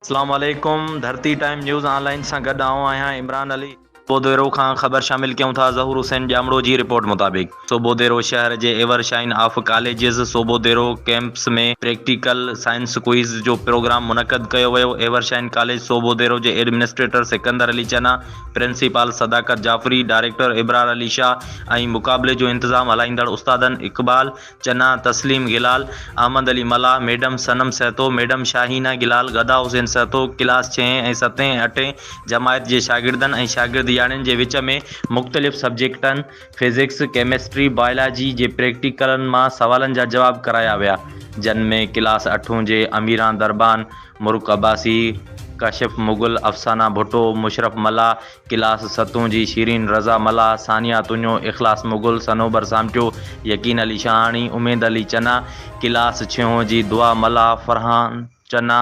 اسلام عليڪم Dharti time news online سان گڏ آئون آهيان عمران علي. بوديرو کان خبر شامل ڪيون ٿا ظهور حسين ڄامڙو جي رپورٽ مطابق سوڀوديرو شهر جي ever shine of colleges Sobhodero campus ۾ practical science quiz جو پروگرام منعقد ڪيو ويو ايور شائين ڪاليج سوڀوديرو جي administrator Sikandar Ali Channa principal Sadaqat Jafri, director Abrar Ali Shah ۽ مقابلي جو انتظام هلائيندڙ استادن Iqbal Channa, Tasleem Gulal, Ahmed Ali Mallah, madam Sanam Sahto, madam Shahina Gulal, Gada Hussain Sahto, class ڇهين ۽ ستين ۽ اٺين جماعت جي شاگردن ۽ شاگردياڻين جي وچ ۾ مختلف سبجيڪٽن فزڪس، ڪيمسٽري، بايولاجي جي پريڪٽيڪلن مان سوالن جا جواب ڪرايا ويا جن ۾ ڪلاس اٺون جي اميران دربان، مرڪ عباسي، ڪاشف مغل، افسانه ڀٽو، مشرف ملاح، ڪلاس ستون جي شيرين، رضا ملاح، ثانيه تونيو، اخلاص مغل، صنوبر سامٽيو، يقين علي شاهاڻي، اميد علي چنا، ڪلاس ڇهون جي دعا ملاح، فرحان چنا،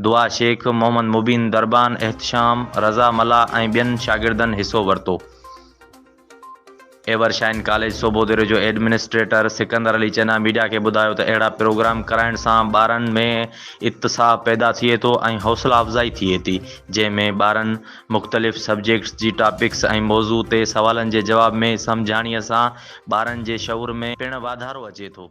دعا شيخ، محمد مبين دربان، احتشام، رضا ملاح ۽ ٻين شاگردن حصو ورتو. ايور شائن ڪاليج سوڀودريو جو ايڊمنسٽريٽر سڪندر علي چنا ميڊيا کي ٻڌايو ته اهڙا پروگرام ڪرائڻ سان ٻارن ۾ اتساهه پيدا ٿئي ٿو ۽ حوصلا افزائي ٿئي ٿي جنهن ۾ ٻارن مختلف سبجيڪٽس جي ٽاپڪس ۽ موضوع تي سوالن جي جواب ۾ سمجهاڻيء سان ٻارن جي شعور ۾ پڻ واڌارو اچي ٿو.